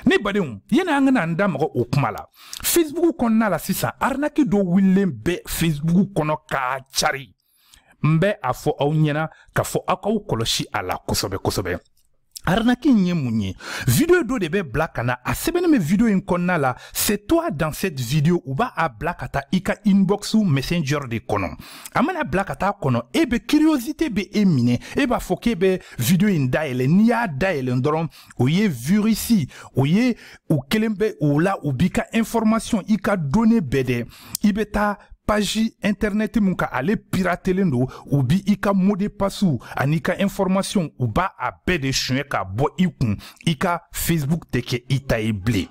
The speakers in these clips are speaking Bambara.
ne badenw yani an ka na an da mɔgɔ o kuma la facebook kɔnɔna la sisan arinaki dɔ wulilen bɛ facebook kɔnɔ k'a cari n bɛ a fɔ aw ɲɛna k'a fɔ aw k'aw kɔlɔsi a la kosɛbɛ kosɛbɛ arinaki in ye mun ye video dɔ de bɛ bila ka na a sɛbɛnnen bɛ video in kɔnɔna la c'est toi dans cette vidéo u b'a a bila ka taa i ka inbox messenger de kɔnɔ a mana bila ka taa kɔnɔ e bɛ curiosité bɛ e minɛ e b'a fɔ k'e bɛ video in dayɛlɛ n'i y'a dayɛlɛ dɔrɔn o ye virisi o ye u kelen bɛ o la u b'i ka information i ka données bɛɛ dɛ i bɛ taa page internet min kan ale piratelen don u b'i ka mot de passe ani i ka information u b'a a bɛɛ de suɲɛ ka bɔ i kun i ka facebook tɛ kɛ i ta ye bilen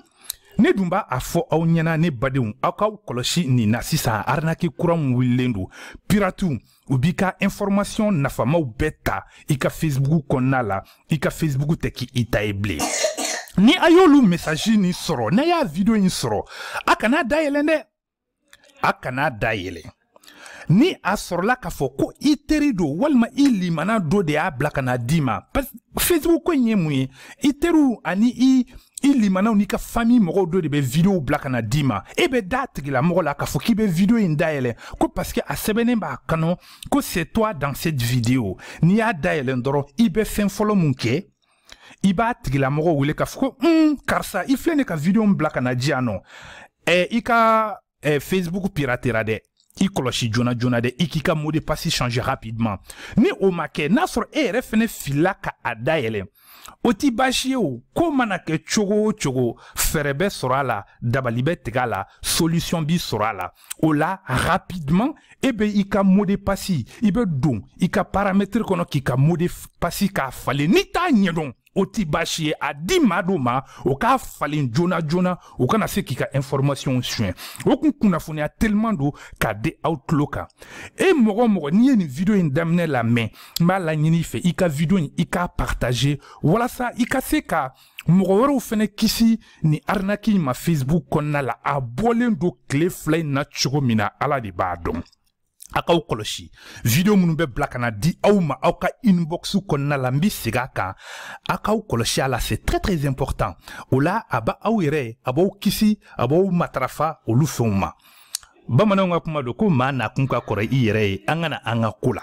ne dun b'a a fɔ aw ɲɛna ne badenw aw k'aw kɔlɔsi nin na sisan arinaki kura min wulilen don piratiw u b'i ka information nafamaw bɛɛ ta i ka facebook kɔnɔna la i ka facebook tɛ kɛ i ta ye bilen ni a y'olu mesaji nin sɔrɔ n'a y'a video in sɔrɔ a kana dayɛlɛn dɛ a kana dayɛlɛn ni a sɔrɔla k'a fɔ ko i teri dɔ walima i limana dɔ de y'a bila ka na d'i ma facebook ko in ye mun ye i teriw ani i i limanaw n'i ka fami mɔgɔw dɔ de bɛ videow bila ka na d'i ma e bɛ da tigilamɔgɔ la k'a fɔ k'i bɛ video in dayɛlɛ ko paske a sɛbɛnnen b'a kɔnɔ ko c'est toi dans cette vidéo n'i y'a dayɛlɛn dɔrɔn i bɛ fɛn fɔlɔ min kɛ i b'a tigilamɔgɔ wele k'a fɔ ko un karisa i filɛ ne ka video min bila ka na di yan nɔ ɛ i ka facebook piratera dɛ i kɔlɔsi joona joona dɛ i k'i ka mot de passe changer rapidement ni o ma kɛ n'a sɔrɔ e yɛrɛ fɛnɛ filila ka a dayɛlɛ o tɛ baasi ye o ko mana kɛ cogo o cogo fɛɛrɛ bɛ sɔrɔ a la dabali bɛ tigɛ a la solution bɛ sɔrɔ a la o la rapidement e bɛ i ka mot de passe i bɛ don i ka paramètre kɔnɔ k'i ka mot de passe k'a falen n'i t'a ɲɛdɔn o tɛ baasi ye a di maa dɔ ma o k'a falen joona joona u kana se k'i ka informasiɔnw suɲɛ o kun kunnafoniya teliman don k'a di aw tulo kan e mɔgɔ o mɔgɔ n'i ye nin vidiyo in daminɛ lamɛn n b'a laɲini i fɛ i ka vidiyo in i k'a partaze walasa i ka se ka mɔgɔ wɛrɛw fɛnɛ kisi nin arinaki in ma facebook kɔnɔna la a bɔlen don tile fila in na cogo min na ala de b'a dɔn a k'aw kɔlɔsi video minnu bɛ bila ka na di aw ma aw ka inbox kɔnɔna la n bɛ segin a kan a k'aw kɔlɔsi a la c'est très très important o la a b'aw yɛrɛ a b'aw kisi a b'aw matarafa olu fɛnw ma bamananw ka kuma don ko maa nakun ka kɔrɔ i yɛrɛ ye an ka na an ka ko la